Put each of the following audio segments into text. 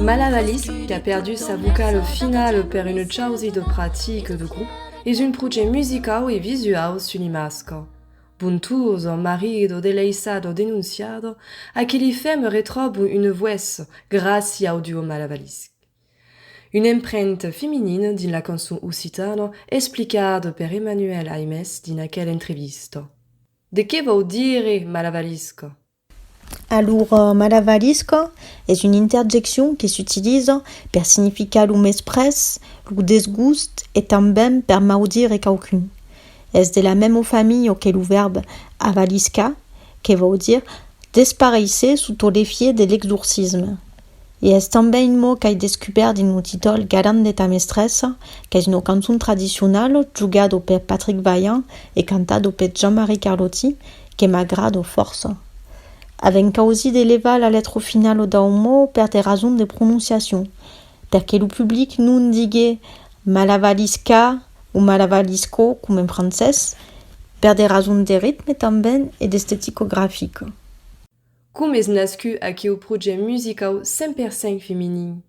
Malabalis, qu'a perdut sa vocale au final per una chausi de practica de grup, es un projèct musicau e visuau sul Imasco. Bon tour, son marit o deleissat o denonciat, a qui li fèm retròbo una voèç gràcia au duo Malabalis. Una empremta feminina dins la cançon occitana explicada per Emmanuel Aimes dins aquela entrevista. De qué vòu dire Malabalisca? Alor, malavarisca es una interjeccion que s'utiliza per significar lo mesprés, lo desgust e tanben per maudire quauqu'un. Es de la mema familha que lo vèrb avaliscar, que vòl dire desparéisser sota l'efièch de l'exorcisme. E es tanben un mot qu'ai descubèrt dins lo títol Garam de ta mestressa, qu'es una cançon tradicionala jogada per Patrick Vaillant e cantada per Jean-Marie Carlotti, que m'agrada fòrça. Avèm causí de levar la letra finala dau mot per de rasons de prononciacion, per que lo public non digue malavalisca o malavalisco coma en francés, per de rasons de ritme tanben e d'esteticografica. Com es nascut aqueu projèct musicau 100% feminin?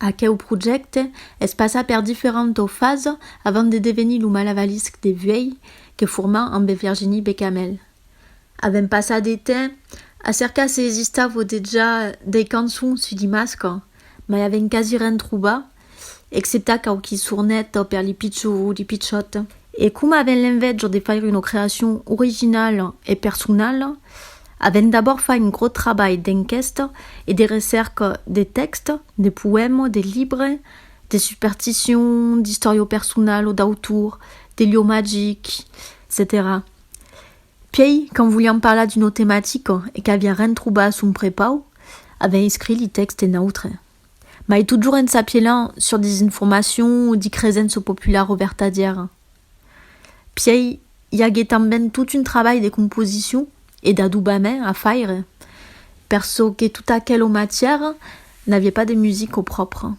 Aqueu projècte es passat per diferentas fasas avant de devenir lo Malavavisc de Vuèi que formam ambe Virginie Becamel. Avèm passat de temps a cercar se existava dejà dei cançons sus Dimasca, mai avèm quasi ren trobat exceptat quauqui sornet per li pichons o li pichòt. E coma avèn l'envèja de faire una creacion originala e personala, avèn d'abòrd fait un gròt trabalh d'enquèsta e de recèrca de tèxt, de poèma, de libre, de superstition, d'istòria personala, d'autor, de lieu magic, etcetèra. Puèi, quand volián parlar d'una tematica e qu'aviá ren trobat a son prepau, avèn escrit li tèxt en autre. Mai totjorn en s'apielhan sur disinformacion o dicresença populara o vertadièra. Pièi i agué tanben tot un trabalh de composicion e d'adobament a faire, per çò que tota aquela matièra n'aviá pas de music au pròpre.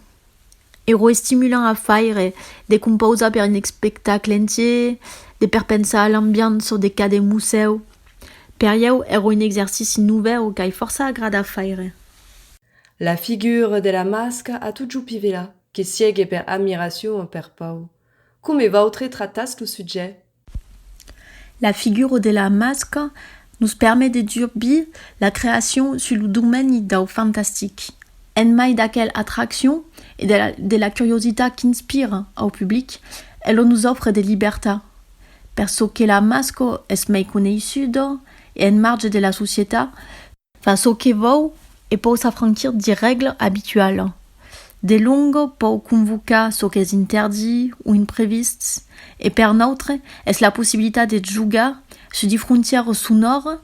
Era estimulant a faire, de compausar per un espectacle entier, de perpensar a l'ambiança de cada musèu, per ieu èra un exercici novèu qu'ai fòrça agrada a faire. La figura de la masca a totjou Pivela, que siegue per admiracion o per pau. Come vautre tratatz lo sujet? La figura de la masca nos permet de durbir la creacion sus lo domeni dau fantastic, en mai d'aquel atraccion e de la curiositat qu'inspira au public, elo nos ofre de libertat. Per çò que la masca es mai coneissuda e en marge de la societat, Fa çò que vòu e pòu s'afranquir de règla abituala. De longo pòu convocar çò qu'es interdit o imprevists e per nautre es la possibilitat de jogar sus de frontièras sonòras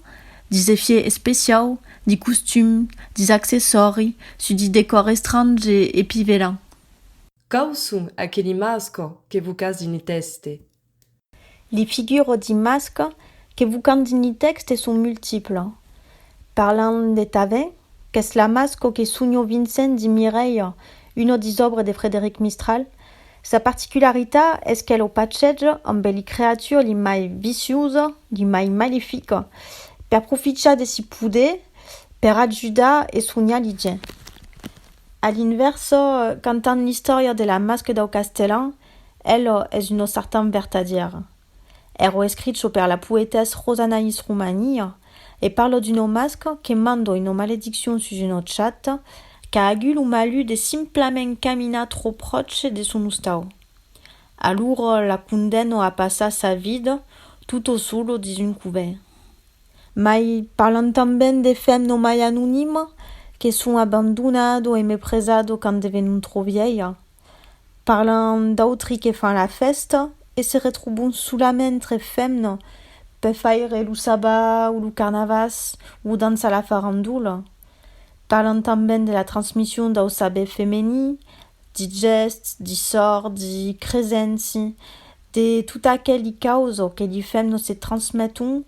de zefier especiau, de costum, de accessòri, sus de decòr estrange e pivelan. Quau son aqueli mascò que vocatz dins le tèxte? Li figures d'imatges que vocam dins li tèxtes son multiples. Parlam de Tavèn, qu'es l'amasco que sonhò Vincent dins Mireia, una dis òbres de Frederic Mistral. Sa particularitat es qu'el o pachèja ambe li creatures li mai vicioses, li mai malefiques, per profichar de si poder per ajudar e sonhar li gents. A l'invèrsa, cantam l'istòria de l'amasco dau Castellan, Elo es una sartan vertadièra. Ero escricho per la poetès Rosanaïs Roumania e parlo d'un omasc que mando una malediccion sus un ochat qu'a agut lo malut de simplament caminar trò pròche de son ostau. Alura la condemno a passar sa vida tutto solo dins un covènt. Mai parlam tanben de femno mai anonima que son abandonado e mepresado quand devenon trò vièia. Parlam d'autri que fan la fèsta e se retrobon solament entre femna per faire lo sabba o lo carnavàs o dançar la farandola. Parlam tanben de la transmission dau saber femení, di gèsts, di sòrts, di cresenci, de tot aqueli causa que li femna se transmeton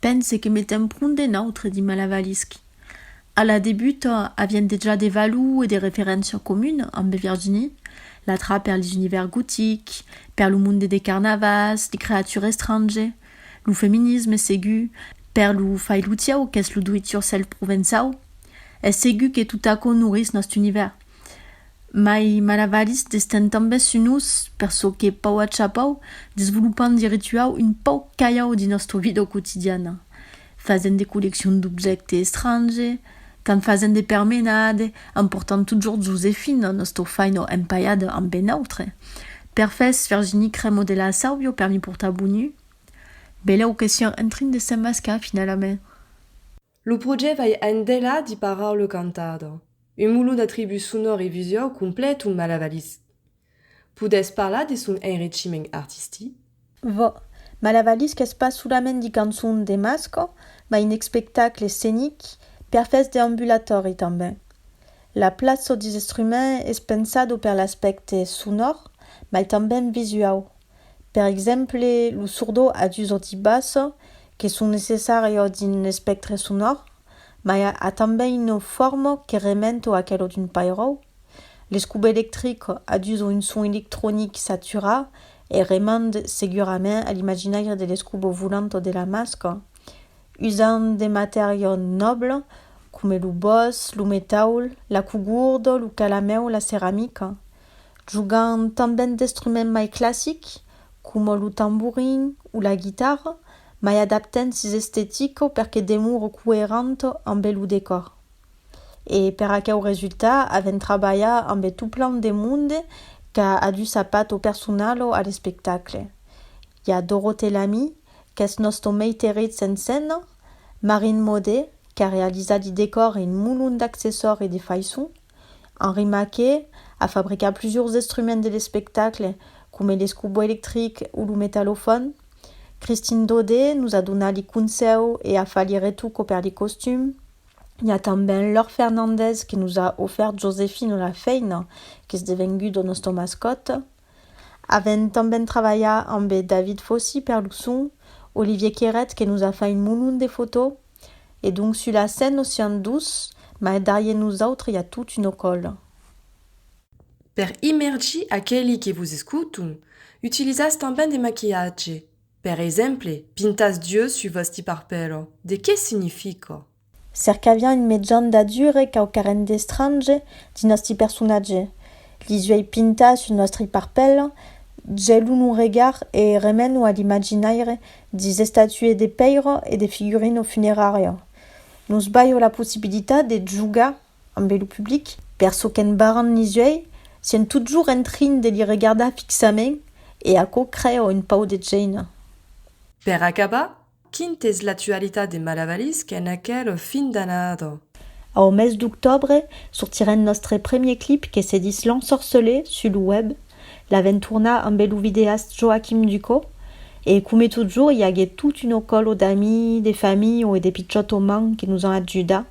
Pense que me ten pron d'un autre, dit Malavavisc. A la debuta, avièm dejà de valor e de referéncia comuna ambe Virginie, l'atra per les univèrs gotics, per lo monde de carnavals, de creature estrange, lo feminisme, segur, per lo fai-lo-tieu qu'es lo do-it-yourself provençau. Es segur que tot aquò nourís nòst univèrs. Mai malavaris d'estent tanben su nos, per çò que pau a chapau, desvolopant de rituau un pauc calhau de nòstra vida quotidiana, fasent de colleccion d'objècte estrange, quand fasent de permenade, emportant totjorn Josefina, nòstra faina empaiada amb ben autre. Per fes, Virginie Cremo de la Sauvio per mi portar bonheur? Beleu que sián en trin de s'emmascar finalament. Lo projèct vai endela di parar lo cantador, un molon d'atributs sonors e visuaus complet un malavalís. Podètz parlar de son enrichiment artistic? Vò, malavalís qu'es pas solament di cançons de masco, mas un espectacle escenic perfèch de ambulatòri tanben. La plaça dis estruments es pensado per l'aspècte sonor, mas tanben visuau. Per exemple, lo sordo a dus auti bassa que son necessària dins l'espèctre sonor, mai a tanben una forma que remet a aquela d'un pairòu. L'escub electric a dus o un son electronic saturat e remet segurament a l'imaginaire de l'escub volant de la masca. Usant de matèria nòbla coma lo bòs, lo metaul, la cogurda, lo calamèu, la ceramica. Jogan tanben d'estruments mai classics, coma lo tamborin o la guitarra, mai adaptent sis estetica perque demore coerent ambe lo decòr. E per aqueu resultat avèn trabalhat ambe toplan de monde qu'a adut sa pato personala a l'espectacle. I a Dorothée Lamy, qu'es nosta meiteritz en scèna, Marine Maudet, qu'a realizat de decòr e un molon d'accessòri de faiçon, Henri Maquet a fabricat plusors estruments de l'espectacle, coma l'escubo electric o lo metallofòn. Christine Daudet nos a donat li consèu e a fat li retuco per li costums. I a tanben Laure Fernandez que nos a ofèrt Josefino la feina, qu'es devengut lo nòstre mascòt. Avèm tanben travalhat ambe David Fossy per lo son, Olivier Queret que nos a fai un monon de fotò, e donc sus la scène nos siam dos, mai darrier nosautres i a tot un ocòl. Per imergir aqueli que vos escoton, utilizatz tanben de maquilhatge, per exemple, pintatz d'yeux sus vòsti parpèlo, de qué significa? Cercavián un mejan d'adure quauquarren d'estrange dins nòsti personatge, lis uèi pintas sus nòstri parpèl, gelon un regard e remenon a l'imaginaire dis estatues de pèira e de figurin au funerària. Nos balho la possibilitat de jogar ambe lo public. Per çò qu'en barran lis uèi, sien totjorn en trin de li regardar fixament e aquò crèa un pauc de gèina. Per acabar, Quin t'es l'actualitat de Malavavisc en aquel fin d'annada? Au mes d'octòbre sortirem nòstre premier clip que se dis L'Ensorcelé sus lo web, l'aventurna ambe lo videast Joachim Ducau e come totjorn i agué tot un ocòlo d'amis, de familh o e de pichòt o man que nos an ajudat.